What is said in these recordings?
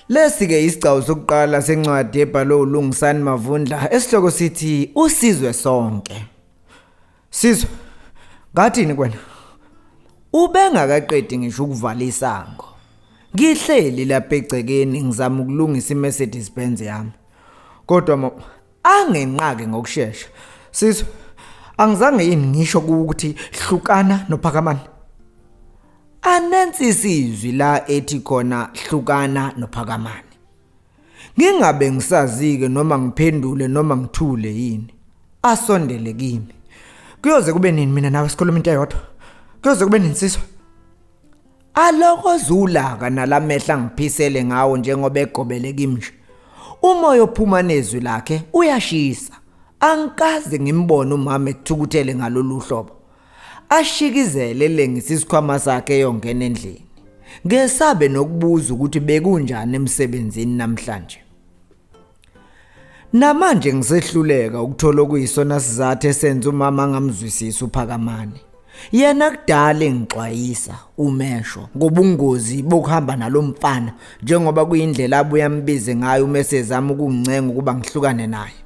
Lesi ke isigcawu sokuqala sencwadi ebhalwe uLungisani Mavundla esihloko sithi usizwe sonke. Sizwe ngathini kwena? Ubengakaqedi ngisho ukuvala isango. Ngihleli lapha egcekeni ngizama ukulungisa iMercedes Benz yami. Kodwa angenqaki ngokushesha sizwe angizange yini ngisho ukuthi hlukana nophakamani anensi sizwi la ethi khona hlukana nophakamani ngingabe ngisazike noma ngiphendule noma ngithule yini asondele kimi kuyoze kube nini mina nawe sikhuluma into eyodwa kuyoze kube nini sizwe Aloko zulaka nalamehla ngiphisele ngawo njengoba egobele kimnje. Umoya ophuma nezwi lakhe uyashisa. Angikaze ngimbone umama ethukuthele ngalolu hlobo. Ashikizele lengisa isikhwama sakhe eyongena endlini. Ngesabe nokubuza ukuthi bekunjani emsebenzini namhlanje. Namanje ngisehluleka ukuthola okuyisona sizathu esenza umama angamzwisisi uPhakamani. Yena kudala engixwayisa umesho ngobungozi bokuhamba nalomfana njengoba kuyindlela abuya ambize ngayo uma esezama ukungincenga ukuba ngihlukane naye.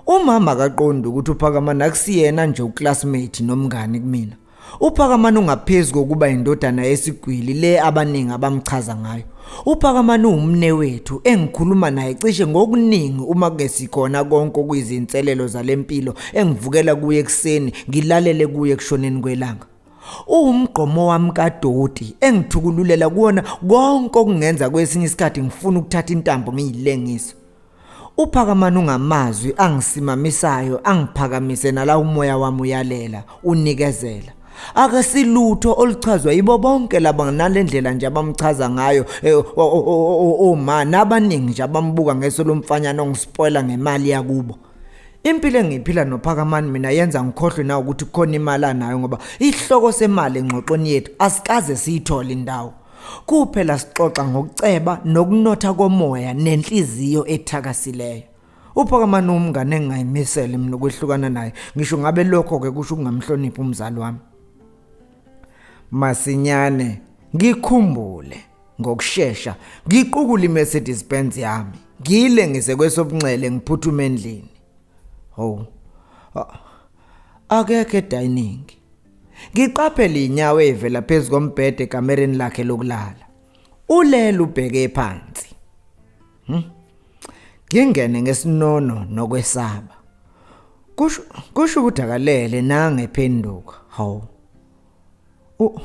Umama akaqondi ukuthi uPhakamani akusiyena nje uclassmate nomngani kumina. UPhakamani ungaphezu kokuba indodana yesigwili le abaningi abamchaza ngayo. UPhakamani uwumne wethu engikhuluma naye cishe ngokuningi uma kuke sikhona konke okuyizinselelo zalempilo engivukela kuye ekuseni ngilalele kuye kushoneni kwelanga. Uwumgqomo wami kadoti engithukululela kuwona konke okungenza kwesinye isikhathi ngifuna ukuthatha intambo ngiyilengise. Uphakamana ungamazwi angisimamisayo angiphakamise nala umoya wami uyalela unikezela akasilutho oluchazwa yibo bonke laba nalendlela nje abamchaza ngayo eh, oma nabaningi nje abambuka ngeso lomfanyana ongispoila ngemali yakubo impilo engiphila nophakamani mina yenza ngikhohlwe na ukuthi khona imali anayo ngoba ihloko semali engxoxweni yethu asikaze siyithole indawo Kuphela sixoxa ngokuceba nokunotha komoya nenhliziyo ethakasileyo. Uphakamani umngane engingayimisele mina ukwehlukana naye ngisho ngabe lokho ke kusho ukungamhloniphi umzali wami. Masinyane ngikhumbule ngokushesha ngiqukula iMercedes Benz yami ngile ngisekwesobunxele ngiphuthume endlini. Ho. Akekho edining. Ngiqaphele inyawo evela phezu kombhede ekamereni lakhe lokulala. Ulele ubheke phansi. Hmm? Ngingene ngesinono nokwesaba. Kusho kusho ukuthi akalele nange phenduka. Hawu. U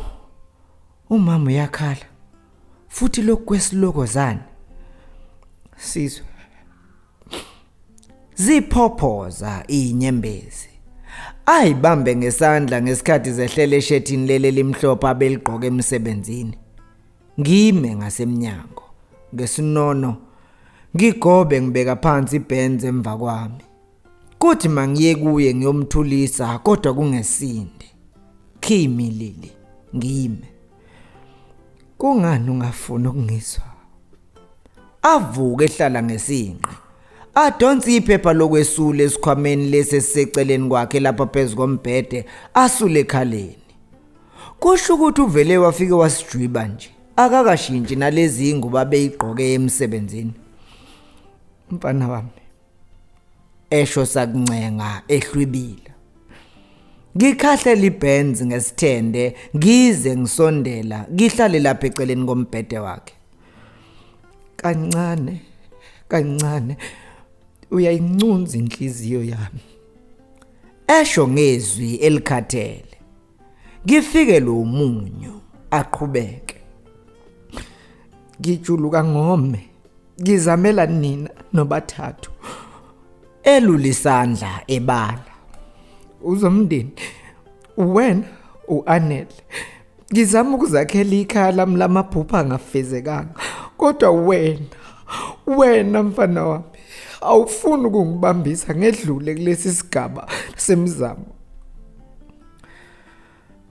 umama uyakhala. Futhi lokwesiloko zani? Sizwe. Ziphophoza inyembezi. Ayibambe ngesandla ngesikhathi zehlela eshethini leli limhlophe abeligqoke emsebenzini. Ngime ngasemnyango ngesinono ngigobe ngibeka phansi ibhenzi emva kwami. Kuthi mangiye kuye ngiyomthulisa kodwa kungesinde. Kimi Lili ngime. Kungani ungafuni ukungizwa? avuke ehlala ngesinqe adonse iphepha lokwesula esikhwameni lesi esiseceleni kwakhe lapha phezu kombhede asule ekhaleni kusho ukuthi uvele wafike wasijwiba nje akakashintshi nalezi ingubo abeyigqoke emsebenzini mfana wami esho sakuncenga ehlwibile Ngikhahle libenz ngesithende ngize ngisondela ngihlale lapha eceleni kombhede wakhe kancane kancane uyayincunza inhliziyo yami esho ngezwi elikhathele ngifike lo munyu aqhubeke ngijuluka ngome ngizamela nina nobathathu elulisandla ebala uzomndeni wena uanele ngizama ukuzakhela ikhaya lami lamaphupha angafezekanga kodwa wena wena mfana wami awufuni ukungibambisa ngedlule kulesi sigaba semizamo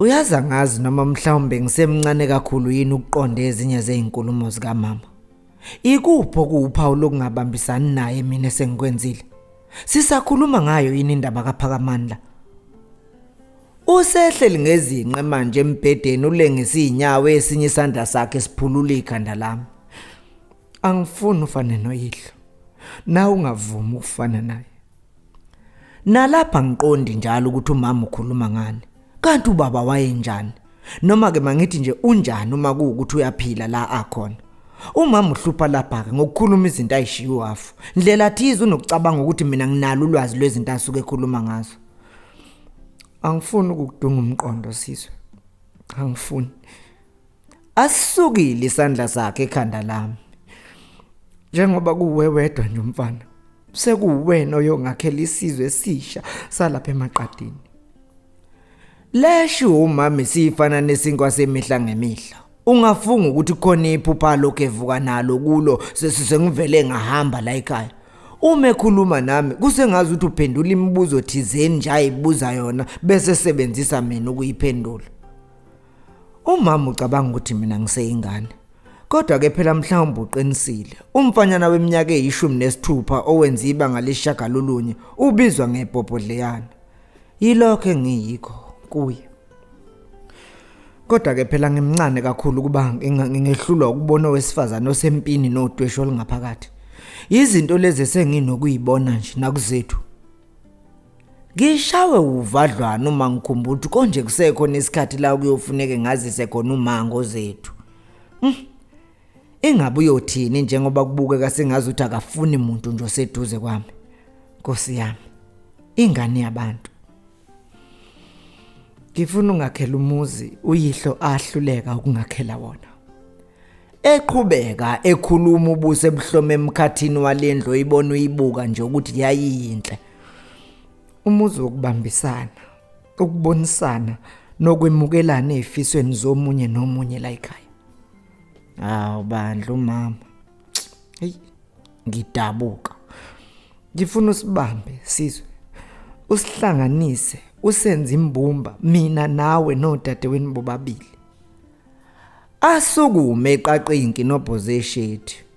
Uyazi angazi noma mhlawumbe ngisemncane kakhulu yini ukuqonda ezinye zezinkulumo zikamama. Ikupho kuwuphawu lokungabambisani naye mina sengikwenzile. Sisakhuluma ngayo yini indaba kaPhakamandla? Usehleli ngezinqe manje embhedeni ulengisa izinyawo esinye isandla sakhe siphulula ikhanda lami. Angifuni ufane noyihlo. Na ungavumi ukufana naye. Nalapha ngiqondi njalo ukuthi umama ukhuluma ngani. Kanti ubaba wayenjani? Noma ke mangithi nje unjani uma kuwukuthi uyaphila la akhona. Umama uhlupha lapha ke ngokukhuluma izinto ayishiwo afu. Ndlela thize unokucabanga ukuthi mina nginalo ulwazi lwezinto asuke ekhuluma ngazo. Angifuni ukudunga umqondo sizwe. Angifuni. asukile isandla sakhe ekhanda lami njengoba kuwe wedwa nje umfana sekuwena oyongakhela isizwe esisha salapha emaqadini lesho umama siyifana nesinkwa semihla ngemihla ungafunga ukuthi khona iphupha lokho evuka nalo kulo sesise ngivele ngahamba la ekhaya uma ekhuluma nami kusengazi ukuthi uphendula imibuzo thizeni nje ayibuza yona bese sebenzisa mina ukuyiphendula Umama ucabanga ukuthi mina ngiseyingane. Kodwa ke phela mhlawumbe uqinisile. Umfanyana weminyaka eyishumi nesithupha owenza ibanga leshagalolunye ubizwa ngebhobhodleyana. Yilokho engiyikho kuye. Kodwa ke phela ngimncane kakhulu kuba ngingehlulwa ukubona owesifazane osempini nodwesho olungaphakathi. Izinto lezi esenginokuyibona nje nakuzethu. Ngishawe uvadlwana uma ngikhumbula ukuthi konje kusekho nesikhathi la kuyofuneke ngazise khona umango zethu. Hmm. Ingabe uyothini njengoba kubukeka sengazi ukuthi akafuni muntu nje oseduze kwami. Nkosi yami. Ingane yabantu. Ngifuna ungakhela umuzi uyihlo ahluleka ukungakhela wona. Eqhubeka ekhuluma ubuse ebuhlome emkhathini walendlo ibona uyibuka nje ukuthi yayiyinhle. umuzi wokubambisana ukubonisana nokwemukelana ezifisweni zomunye nomunye la ekhaya hawu bandla umama hey ngidabuka ngifuna usibambe sizwe usihlanganise usenze imbumba mina nawe nodadewenu bobabili asukume eqaqinki nobhoze eshethi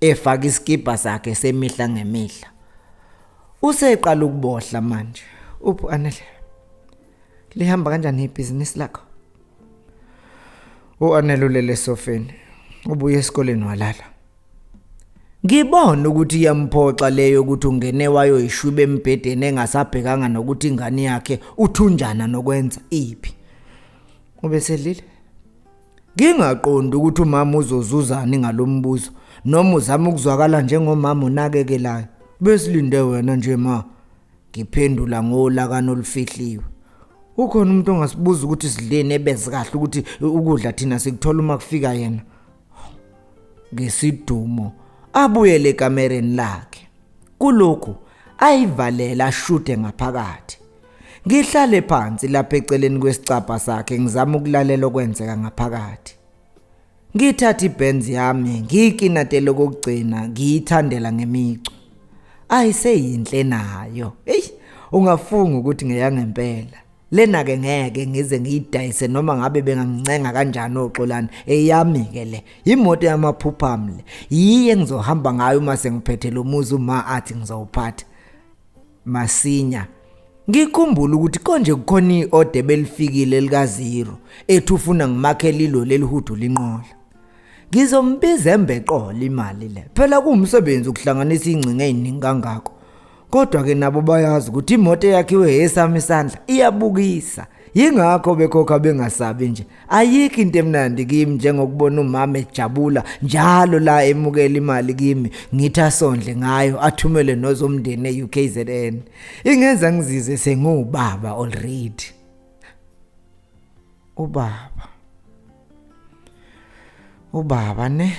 efaka isikibha sakhe semihla ngemihla useqala ukubohla manje uphu anele lihamba kanjani ibhizinisi lakho uanele ulele sofeni ubuye esikoleni walala ngibona ukuthi iyamphoxa leyo ukuthi ungene wayoyishwiba embhedeni engasabhekanga nokuthi ingane yakhe uthunjana nokwenza iphi ubeselile Ngingaqondi ukuthi umama uzozuzani ngalombuzo noma uzama ukuzwakala njengomama onakekelayo. Besilinde wena nje ma. Ngiphendula ngolakana olufihliwe. Ukhona umuntu ongasibuza ukuthi sidleni ebeze kahle ukuthi ukudla thina sikuthola uma kufika yena. Ngesidumo abuyele ekamereni lakhe. Kulokhu ayivalela ashude ngaphakathi. Ngihlale phansi lapha eceleni kwesicabha sakhe ngizama ukulalela okwenzeka ngaphakathi. Ngithatha ibenz yami ngiyikinatele kokugcina ngiyithandela ngemicu. Ayiseyinhle nayo. Ey ungafunga ukuthi ngeyangempela. Lena ke ngeke ngize ngiyidayise noma ngabe bengangincenga kanjani oxolani eyami ke le imoto yamaphupha mle yiye ngizohamba ngayo uma sengiphethe lo muzi uma athi ngizowuphatha masinya ngikhumbula ukuthi konje kukhona iode belifikile lika zero ethi ufuna ngimakhe lilo lelihudu linqola ngizombiza embeqola imali le phela kuwumsebenzi ukuhlanganisa ingcinga eziningi kangako kodwa ke nabo bayazi ukuthi imoto eyakhiwe hesami isandla iyabukisa Yingakho bekhokha bengasabi nje. Ayikho into emnandi kimi njengokubona umama ejabula njalo la emukela imali kimi ngithi asondle ngayo athumele nozomndeni eUKZN. Ingenza ngizizwe sengiwubaba already. Ubaba ubaba ne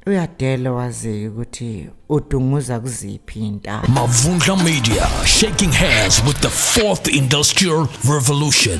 uyadela wazi ukuthi udunguza kuziphi intaba Mavundla Media, shaking hands with the fourth industrial revolution.